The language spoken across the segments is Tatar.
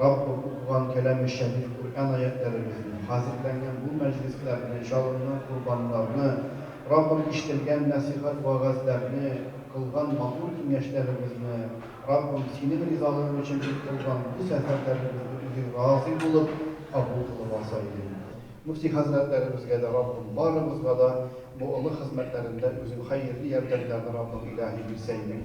Раббым, укыган кәламе шәриф Коръән аятьләребезне, хәзерләнгән бу мәҗлесләрне, җалынган корбаннарны, Раббым, ишетелгән нәсыйхәт-вәгазьләрне, кылган матур киңәшләребезне, Раббым, Синең ризалыгың өчен дип кылган бу сәфәрләребезне Үзең разый булып, кабул кылып алса идең. Мөфти хәзрәтләребезгә дә, Раббым, барыбызга да бу олы хезмәтләрендә Үзең хәерле ярдәмнәрне, Раббым, илаһи, бирсә идең.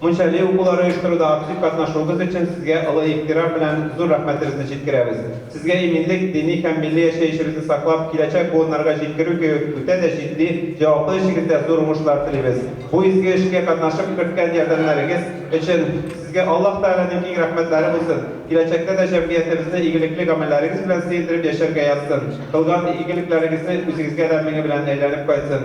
Мунчали укулары оештыруда актив катнашуыгыз өчен сезгә олы ихтирам белән зур рәхмәтебезне җиткерәбез. Сезгә иминлек, дини һәм милли яшәешебезне саклап, киләчәк буыннарга җиткерү кебек үтә дә җитди, җаваплы эшегездә зур уңышлар телибез. Бу изге эшкә катнашып керткән ярдәмнәрегез өчен Сезгә Аллаһ Тәгаләнең киң рәхмәтләре булсын, киләчәктә дә җәмгыятебезне игелекле гамәлләрегез белән сөендереп яшәргә язсын, кылган игелекләрегезне үзегезгә дә меңе белән әйләнеп кайтсын.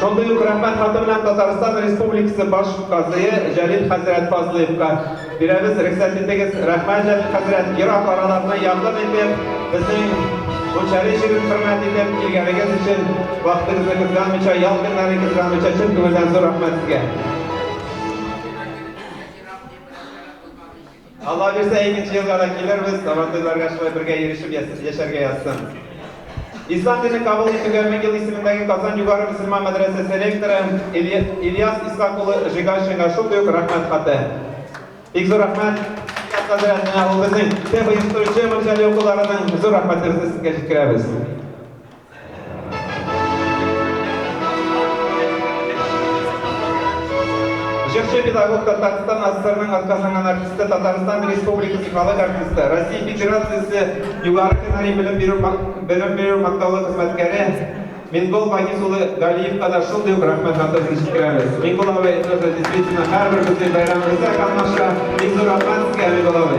Шундый ук рәхмәт хаты белән Татарстан Республикасы баш казые Җәлил хәзрәт Фазлыевка бирәбез. Рөхсәт итегез, рәхмәт Җәлил хәзрәт, ерак араларны якын итеп, безнең Кучари җирен хөрмәт итеп килгәнегез өчен, вакытыгызны кызганмыйча, ял көннәрен кызганмыйча чын күңелдән зур рәхмәт сезгә. Алла бирсә, икенче елга да килербез, Сабантуйларга шулай бергә йөрешеп яшәргә язсын. Ислам динен кабул итүгә мең ел исемендәге Казан югары мөселман мәдрәсәсе ректоры Ильяс Исхак улы Жигашинга шундый ук рәхмәт хаты. Бик зур рәхмәт хәзрәтенә, ул безнең теп оештыручы мөрҗәли укуларының зур рәхмәтебезне сезгә җиткерәбез. Җырчы педагог Татарстан АССРның атказанган артисты, Татарстан Республикасы халык артисты, Россия Федерациясе югары һөнәри белем бирү белем бирү мактаулы хезмәткәре Мингол Багис улы Галиевка да шундый ук рәхмәт хатырын җиткерәбез. Мингол абый, это же действительно һәрбер безнең бәйрәмебездә катнаша. Бик зур рәхмәт сезгә, Мингол абый.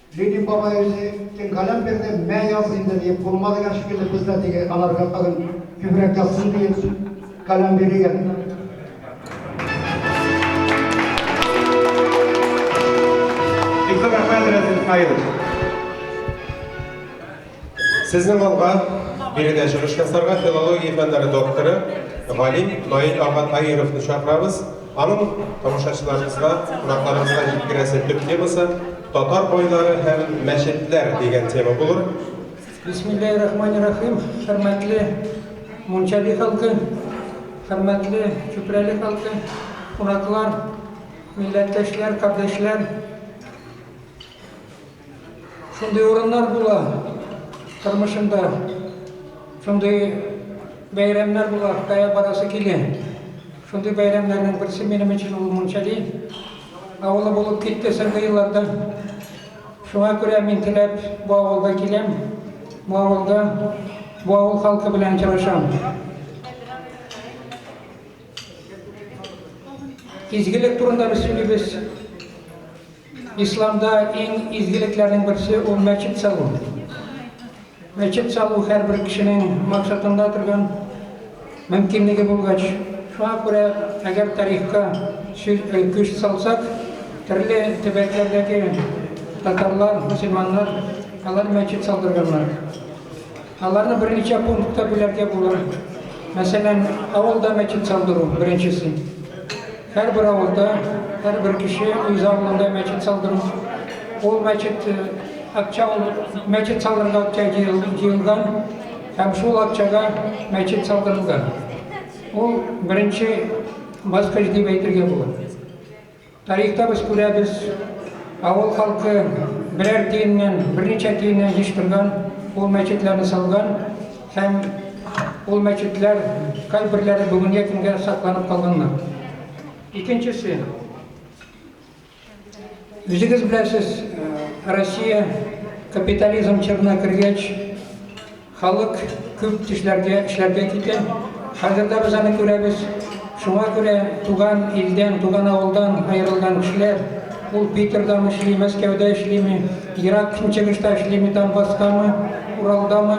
Ленин бабай үзе кем каләм бирде, мә яз инде диеп, кулыма дигән шикелле, без дә теге аларга тагын күбрәк язсын диеп каләм бирегән. Бик зур рәхмәт, Рәзил Исмаилович. Сезнең алга биредә чыгыш ясарга филология фәннәре докторы, галим Наил ага Таировны чакырабыз. Аның тамашачыларыбызга, кунакларыбызга җиткерәсе төп темасы Татар байлары һәм мәчетләр дигән тема булыр. Бисмиллаһи рахмани рахим, хөрмәтле Мунчаби халкы, хөрмәтле Чүпрәле халкы, кунаклар, милләттәшләр, кардәшләр. Шундый урыннар була тормышында, шундый бәйрәмнәр була, кая барасы килә. Шундый бәйрәмнәрнең берсе минем өчен ул Мунчали авылы булып китте соңгы елларда. Шуңа күрә мин теләп бу авылга киләм, бу авылда бу авыл халкы белән очрашам. Изгелек турында без сөйлибез. Исламда иң изгелекләрнең берсе ул мәчет салу. Мәчет салу һәрбер кешенең максатында торган мөмкинлеге булгач, шуңа күрә әгәр тарихка күз салсак, төрле төбәкләрдәге татарлар, мөселманнар алар мәчет салдырганнар. Аларны берничә пунктка бүләргә була. Мәсәлән, авылда мәчет салдыру беренчесе. Һәрбер авылда, һәрбер кеше үз авылында мәчет салдыру. Ул мәчет э, акча мәчет салдырырга акча җыелган һәм шул акчага мәчет салдырылган. Ул беренче баскыч дип әйтергә була. Тарихта без күрәбез, авыл халкы берәр тиеннән, берничә тиеннән еш торган, ул мәчетләрне салган һәм ул мәчетләр кайберләре бүгенге көнгә сакланып калганнар. Икенчесе, үзегез беләсез, э, Россия капитализм чорына кергәч, Халык күп төшләргә, эшләргә китә. Хәзер дә без аны күрәбез. Шуңа күрә туган илдән, туган авылдан аерылган кешеләр, ул Питердамы эшли, Мәскәүдә эшлиме, ерак Көнчыгышта эшлиме, Донбасстамы, Уралдамы,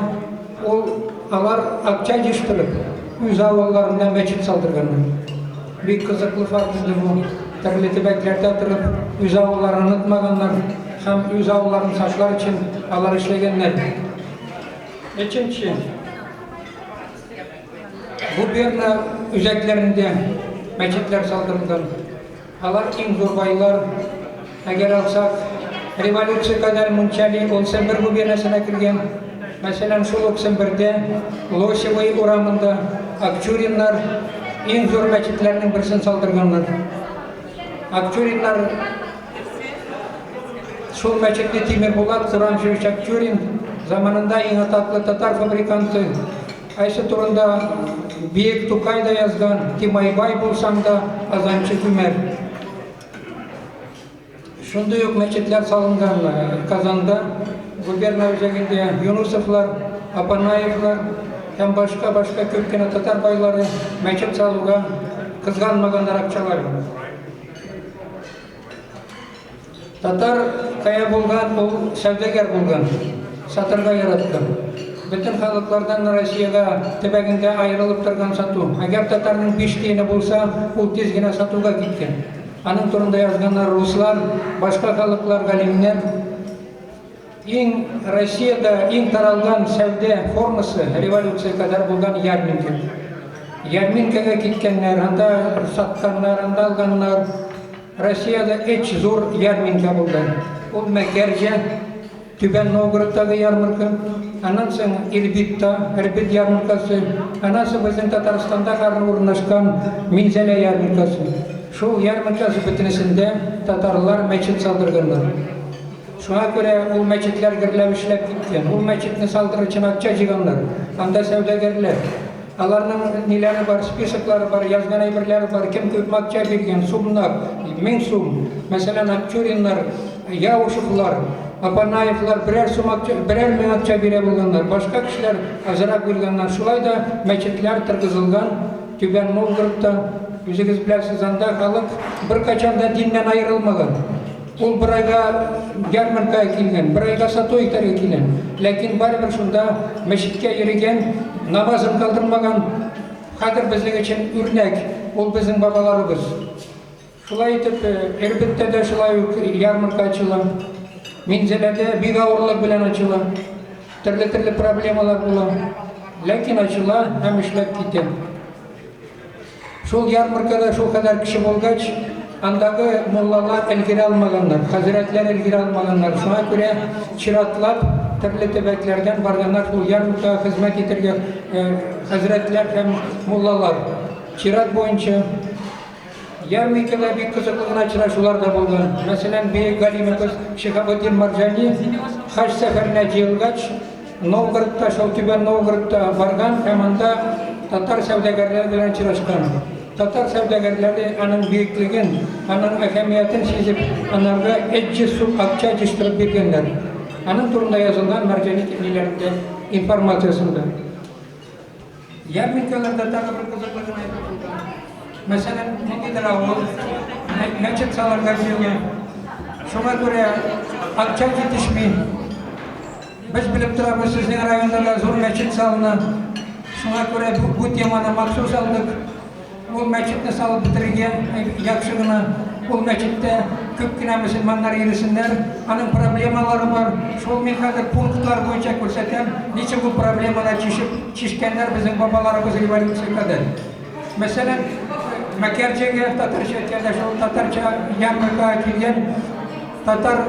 ул, алар акча җыештырып, үз авылларында мәчет салдырганнар. Бик кызыклы факт инде бу. Төрле төбәкләрдә торып, үз авылларын онытмаганнар һәм үз авылларын саклар өчен алар эшләгәннәр. Өченче. Губерна үзәкләрендә мәчетләр салдырылды. Алар иң зур байлар. Әгәр алсак, революция кадәр мунчали ул Сембер губернасына килгән. Мәсәлән, шул ук Сембердә, Лосевый урамында, Акчуриннар иң зур мәчетләрнең берсен салдырганнар. Акчуриннар Шул мәчетне Тимер Булат Куранжи Чакчурин заманында иң атаклы татар фабриканты Айсы турында Биек Тукай да язган, Тимайбай булсаң да, Азанчы Күмәр. Шундый ук мәчетләр салынган э, Казанда, губерна үзәгендә Юнусовлар, Апанаевлар һәм башка-башка күп кенә татар байлары мәчет салуга кызганмаганнар акчаларын. Татар кая булган, ул сәүдәгәр булган. Сатырга яратты. Бөтен халыклардан Россиядә төбәгендә аерылып торган сату. Әгәр татарның биш тиене булса, ул тиз генә сатуга киткән. Аның турында язганнар руслар, башка халыклар, галимнәр. Иң Россиядә иң таралган сәүдә формасы революция кадәр булган ярминкә. Ярминкәгә киткәннәр, анда сатканнар, анда алганнар. Россиядә эч зур ярминкә булды. Ул Мәкәрҗә, Түбән Новгородтагы ярмарка, аннан соң Ирбитта, Ирбит ярмаркасы, аннан соң безнең Татарстанда гарны урнашкан Минзәлә ярмаркасы. Шул ярмаркасы бөтенесендә татарлар мәчет салдырганнар. Шуңа күрә ул мәчетләр гөрләп эшләп киткән. Ул мәчетне салдыру өчен акча җыйганнар. Анда сәүдәгәрләр. Аларның ниләре бар, списоклары бар, язган әйберләре бар. Кем күп акча биргән, сумнар, мең сум. Мәсәлән, Акчуриннар, Яушевлар, Апанаевлар берәр сум акча, берәр мең акча бирә булганнар. Башка кешеләр азрак биргәннәр. Шулай да мәчетләр торгызылган Түбән Новгородта. Үзегез беләсез, анда халык беркайчан да диннән аерылмаган. Ул бер айга ярмарка килгән, бер айга сату итәргә килгән. Ләкин барыбер шунда мәчеткә йөргән, намазын калдырмаган. Хәзер безнең өчен үрнәк, ул безнең бабаларыбыз. Шулай итеп, Ирбеттә дә шулай ук ярмарка ачыла. Минзәләдә бик авырлык белән ачыла. Төрле-төрле проблемалар була. Ләкин ачыла һәм эшләп китә. Шул ярмаркада шулкадәр кеше булгач, андагы муллалар өлгерә алмаганнар, хәзрәтләр өлгерә алмаганнар. Шуңа күрә чиратлап төрле төбәкләрдән барганнар шул ярмаркага хезмәт итәргә э, хәзрәтләр һәм муллалар. Чират буенча Ярмикада бик кызыклы гына очрашулар да булган. Мәсәлән, бөек галимыбыз Шихабетдин Марҗани хаҗ сәфәренә җыелгач, Новгородта, Шаутүбән Новгородта барган һәм анда татар сәүдәгәрләре белән очрашкан. Татар сәүдәгәрләре аның бөеклеген, аның әһәмиятен сизеп, анарга 300 сум акча җыштырып биргәннәр. Аның турында язылган Мәрҗани тиңнеләрендә информациясендә. Ярминкаларда тагы бер кызыклы гына әйбер булды. Мәсәлән, ниндидер авыл мәчет салырга җыена. Шуңа күрә акча җитешми. Без белеп торабыз, сезнең районда да зур мәчет салына. Шуңа күрә бу теманы махсус алдык. Ул мәчетне салып бетерергә яхшы гына. Ул мәчеттә күп кенә мөселманнар йөресеннәр. Аның проблемалары бар. Шул мин хәзер пунктлар буенча күрсәтәм, ничек ул проблемалар чишеп, чишкәннәр безнең бабаларыбыз революция кадәр. Мәсәлән, Мәкәрҗәгә татарча әйткәндә шул татарча ярмаркага килгән татар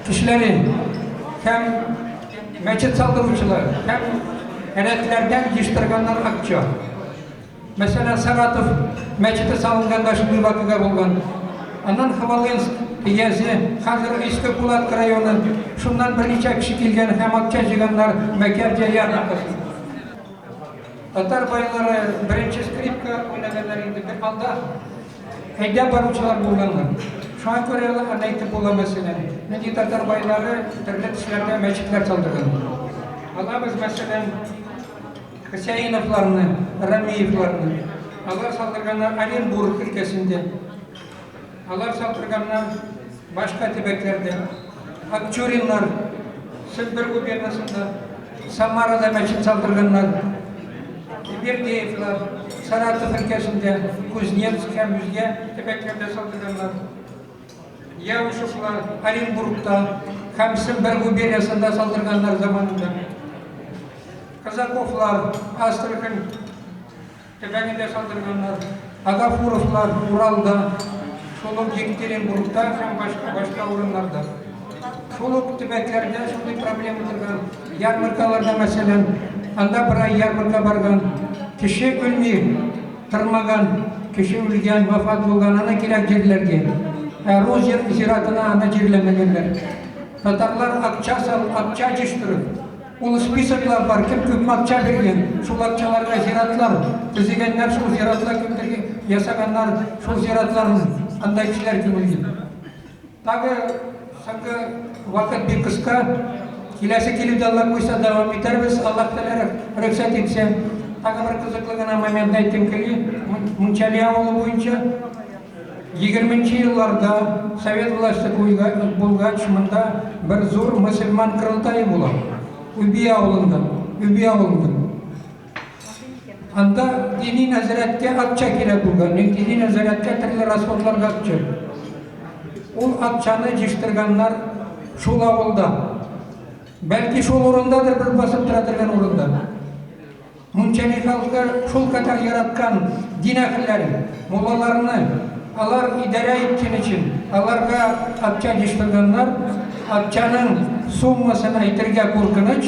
кешеләре һәм мәчет салдыручылар һәм рәтләрдән җыштырганнар акча. Мәсәлән, Саратов мәчете салынганда шундый вакыйга булган. Аннан Хвалынск, Иязе, хәзер Иске Пулат районы, шуннан берничә кеше килгән һәм акча җыйганнар Мәкәрҗә ярмаркасы. Татар байлары беренче скрипка уйнаганнар инде бер анда. Әйдә баручылар булганнар. Шуңа күрә ул аны әйтеп була мәсәлән. Нинди татар байлары төрле төсләрдә мәчетләр салдырган. Алабыз мәсәлән Хөсәеновларны, Рәмиевларны. Алар салдырганнар Оренбург өлкәсендә. Алар салдырганнар башка төбәкләрдә. Акчуриннар Себер губернасында, Самарада мәчет салдырганнар. Бердеевлар Саратов өлкәсендә, Кузнецк һәм үзгә төбәкләрдә салдырганнар. Явушевлар Оренбургта һәм Сембер губерниясендә салдырганнар заманында. Казаковлар Астрахань төбәгендә салдырганнар. Агафуровлар Уралда, шул ук Екатеринбургта һәм башка башка урыннарда. Шул ук төбәкләрдә шундый проблема торган. Ярмаркаларда мәсәлән, анда бер ай ярмарка барган. Кеше үлми, Тырмаган, кеше үлгән, вафат булган, аны кирәк җирләргә. Ә рус зиратына аны җирләмәгәннәр. Татарлар акча сал, акча җыштырып, ул списоклар бар, кем күп акча биргән, шул акчаларга зиратлар төзегәннәр, шул зиратлар кемдер ясаганнар, шул зиратларны анда кешеләр күмелгән. Тагы соңгы вакыт бик кыска. Киләсе килеп яллар буйса дәвам итәрбез. Аллаһ Тәгалә рөхсәт итсә, тагы бер кызыклы гына момент әйтем кили. Мунчали авылы буенча 20 нче елларда совет власте булгач, монда бер зур мөселман кырылтае була. Үби авылында, Үби авылында. Анда дини нәзәрәткә акча кирәк булган. Мин дини нәзәрәткә төрле расходларга акча. Ул акчаны җыштырганнар шул авылда. Бәлки шул урындадыр бер басып тора торган урында. Мунчани халкы шул кадәр яраткан дин әһелләрен, муллаларны, алар идарә иткән өчен, аларга акча җыштырганнар. Акчаның суммасын әйтергә куркыныч.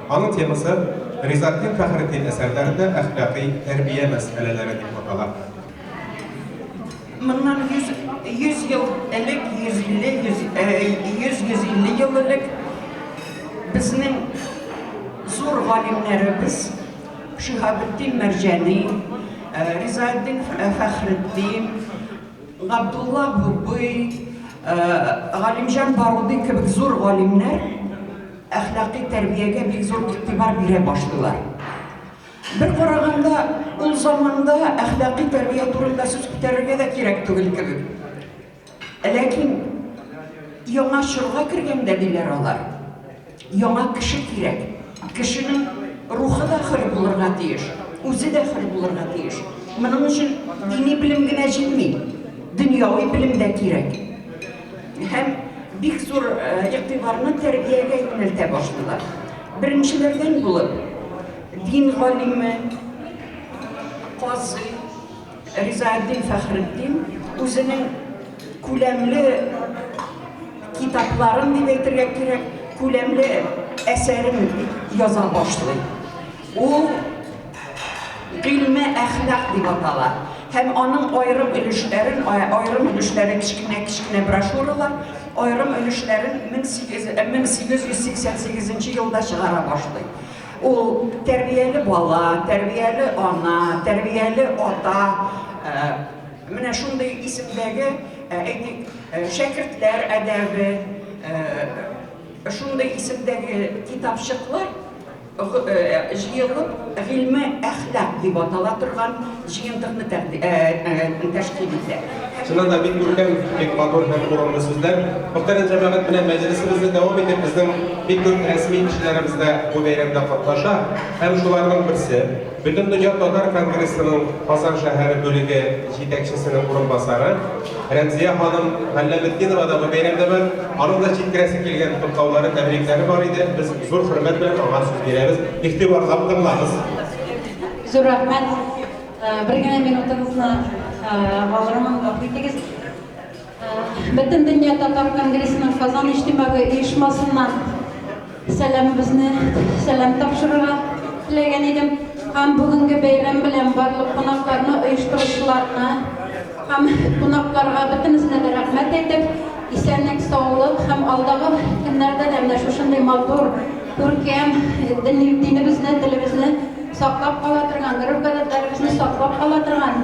Аның темасы Ризатдин Фәхретдин әсәрләрендә әхлакый тәрбия мәсьәләләре дип атала. Моннан 100 100 ел элек, 150 100 150 ел элек безнең зур галимнәребез Шиһабетдин Мәрҗәни, Ризаэддин Фәхретдин, Габдулла Бубый, Галимҗан Баруди кебек зур галимнәр Әхлакый тәрбиягә бик зур игътибар бирә башлыйлар. Бер караганда, ул заманда әхлакый тәрбия турында сүз күтәрергә дә кирәк түгел кебек. Ә ләкин яңа чорга кергәндә, диләр алар, яңа кеше кирәк. Кешенең рухы да хөр булырга тиеш, үзе дә хөр булырга тиеш. Моның өчен дини белем генә җитми, дөньяви белем дә кирәк. һәм бик зур игътибарны тәрбиягә юнәлтә башлыйлар. Беренчеләрдән булып, дин галиме, казый Ризаэддин Фәхретдин үзенең күләмле китапларын дип әйтергә кирәк, күләмле әсәрен яза башлый. Ул гыйльме әхлак дип атала һәм аның аерым өлешләрен, аерым өлешләрен кечкенә-кечкенә брошюралар, аерым өлешләрен 1888 э, елда чыгара башлый. Ул тәрбияле бала, тәрбияле ана, тәрбияле ата, э, менә шундый исемдәге, э, әйтик, шәкертләр әдәбе, шундый исемдәге китапчыклар җыелып, гыйльме әхлак дип атала торган җыентыкны тәшкил итә. Чыннан да бик күркәм, бик матур һәм урынлы сүзләр. Мөхтәрәм җәмәгать, менә мәҗлесебезне дәвам итеп, безнең бик күп рәсми кешеләребез дә бу бәйрәмдә катнаша. Һәм шуларның берсе, Бөтен дөнья татар конгрессының Казан шәһәре бүлеге җитәкчесенең урынбасары Рәмзия ханым Галләметдинова да бу бәйрәмдә бар. Аның да җиткерәсе килгән котлаулары, тәбрикләре бар иде. Без зур хөрмәт белән аңа сүз бирәбез. Игътибарлап тыңлагыз. Зур рәхмәт. Бер генә минутыгызны алырмын, гафу итегез. Бөтендөнья татар конгрессының Казан иҗтимагый оешмасыннан сәламебезне сәлам тапшырырга теләгән идем. Һәм бүгенге бәйрәм белән барлык кунакларны, оештыручыларны һәм кунакларга бөтенесенә дә рәхмәт әйтеп, исәнлек, саулык һәм алдагы көннәрдә дә менә шушындый матур, күркәм динебезне, телебезне саклап кала торган, гореф-гадәтләребезне саклап кала торган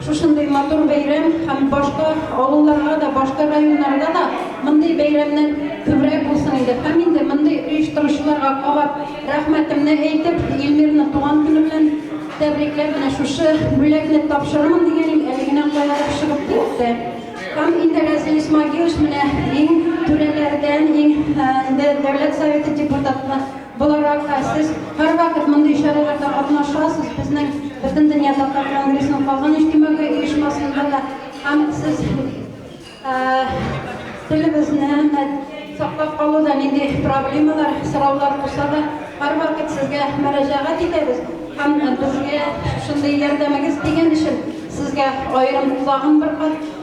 Шушындый матур бәйрәм һәм башка авылларга да, башка районнарга да мондый бәйрәмнәр күбрәк булсын иде. Һәм инде мондый оештыручыларга кабат рәхмәтемне әйтеп, Илмирны туган көне белән тәбрикләп, менә шушы бүләкне тапшырырмын дигәнем әле генә каядыр чыгып китте. Һәм инде Разил Исмагилович менә иң түрәләрдән, иң инде Дәүләт Советы депутаты Буларак та сез һәрвакыт мондый чараларда катнашасыз, безнең Бөтендөнья татар конгрессының калган иҗтимагый оешмасында да һәм сез телебезне саклап калуда нинди проблемалар, сораулар булса да, һәрвакыт сезгә мөрәҗәгать итәбез һәм безгә шундый ярдәмегез тигән өчен сезгә аерым тагын бер кат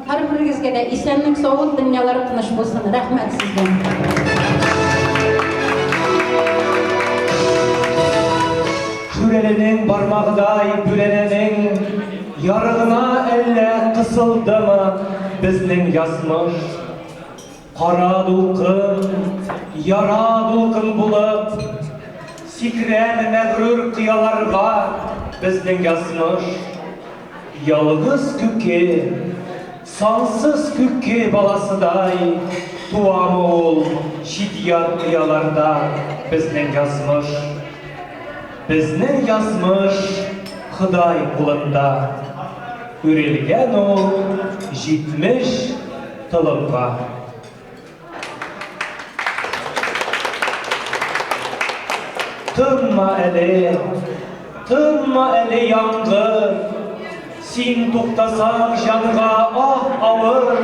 Һәрберегезгә дә исәнлек саулык дөньялары тыныч булсын рәхмәт сезгә. Шүрәленең бармагыдай бүрәнәнең ярыгына әллә кысылдымы безнең язмыш. Кара дулкын, яра дулкын булып, Сикрәр мәгърур кыяларга безнең язмыш. Ялгыз күке, сансыз күке баласыдай, Туамы ул чит-ят кыяларда безнең язмыш. Безнең язмыш Ходай кулында. Үрелгән ул җитмеш Толыпка. Тынма әле, тынма әле яңгыр, Син туктасаң җанга ах авыр,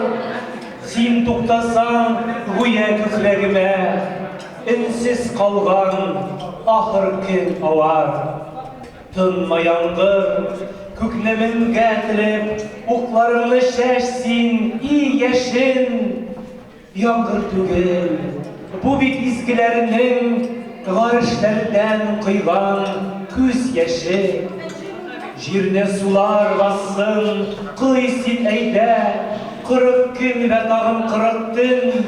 Син туктасаң гүя күкрәгемә, Өнсез калган ахыр көн авар. Тынма яңгыр, күкне менгә телеп, Укларыңны чәч син, и яшен! Яңгыр түгел, бу бит изгеләрнең Гарешләрдән койган күз яше. Җирне сулар бассын, кой син әйдә, Кырык көн вә тагын кырык төн!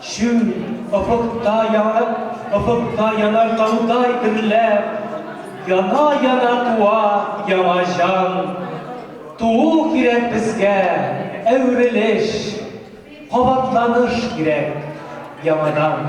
Чүл, офыкта янып, офыкта янар таудай дөрләп, Яна-яна туа яңа җан. Туу кирәк безгә, әверелеш, кабатланыш кирәк яңадан.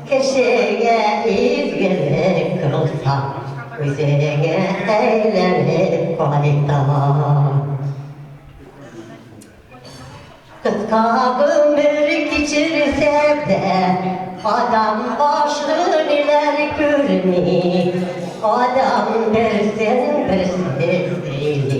Кешегә изгелек кылсаң, үзеңә әйләнеп кайта. Кыска гомер кичерсә дә, адам башы ниләр күрми, Адам берсен-берсе сөйли.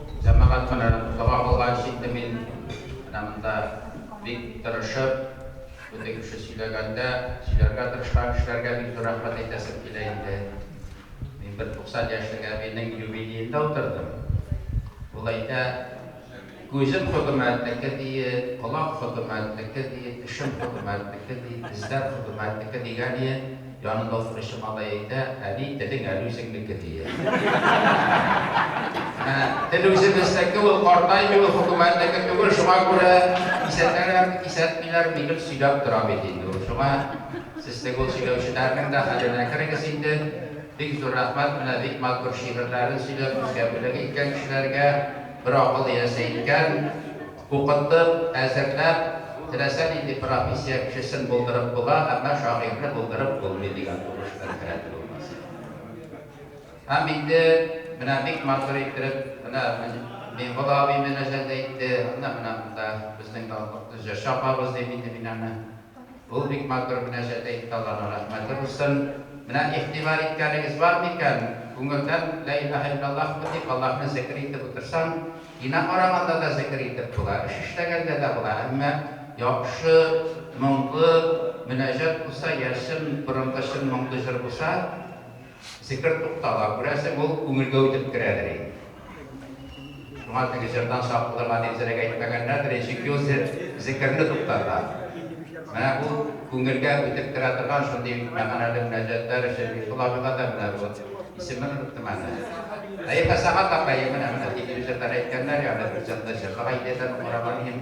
Җәмәгать менә дога кылган читне мин менә монда бик тырышып, шундый кеше сөйләгәндә, сөйләргә тырышкан кешеләргә бик зур рәхмәт әйтәсем килә инде. Мин бер 90 яшьлек әбинең юбилеенда утырдым. Ул әйтә, Күзем хөкүмәтнеке, ди, колак хөкүмәтнеке, ди, тешем хөкүмәтнеке, ди, тезләр хөкүмәтнеке, дигән иен. Янында утыручы малай әйтә, Әби, телең әле үзеңнеке, дия. Ә тел үзебезнеке, ул картаймый, ул хөкүмәтнеке түгел, шуңа күрә кисәтәләр, кисәтмиләр, ни гел сөйләп тора бит инде ул. Шуңа сез теге ул сөйләүчеләрнең дә хәленә керегез инде. Бик зур рәхмәт, менә бик матур шигырьләрен сөйләп, үзгә бүләк иткән кешеләргә, бер акыл иясе иткән. Укыттык, әзерләп, теләсә нинди профессия кешесен булдырып була, әмма шагыйрьне булдырып булмый, дигән тубыш белән керәдер ул мәсьәләгә. Һәм инде менә бик матур иттереп, менә Миңгол абый мөнәҗәт әйтте, әнә менә монда безнең данлыклы җырчы апабыз, дим инде мин аны. Ул бик матур мөнәҗәт әйтте, Алланың рәхмәте булсын. Менә игътибар иткәнегез бар микән, күңелдән Лә илаһә иллаллаһмы дип Аллаһны зекер итеп утырсаң, кино караганда да зекер итеп була, эш эшләгәндә дә була, әмма яхшы, моңлы мөнәҗәт булса, йә чын, борынгы чын моңлы җыр булса, Зикер туктала, күрәсең, ул күңелгә үтеп керәдер инде. Шуңа теге җырдан сак булырга дип зрәк әйтмәгәннәрдер, ничек Йосиф зикерне туктата. Менә бу күңелгә үтеп керә торган шундый мәгънәле мөнәҗәтләр өчен Мифул абыйга да менә бу, исемен оныттым әле. Әйе, Фәсәхәт апай, менә-менә, дип ир-җырдан әйткәннәр, ягъни бу җырны җырлаган идеядән ук караган идем.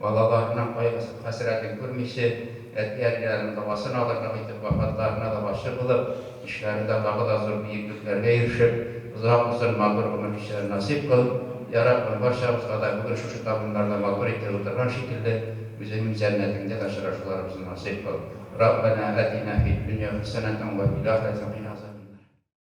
балаларының кайгысын-хәсрәтен күрмичә, әти-әниләрен догасын алырга китеп, вафатларына да гашыйк булып, эшләрендә тагы да зур биеклекләргә ирешеп, озак-озын матур гомер кичерер насыйп кыл, я Раббым, барчабызга да бүген шушы табыннарда матур итеп утырган шикелле, үзеңнең җәннәтеңдә дә очрашуларыбызны насыйп кыл. Раббәнә әтинә фид дөнья хәсәнәтән вә фил ахирәти кина азабәннар.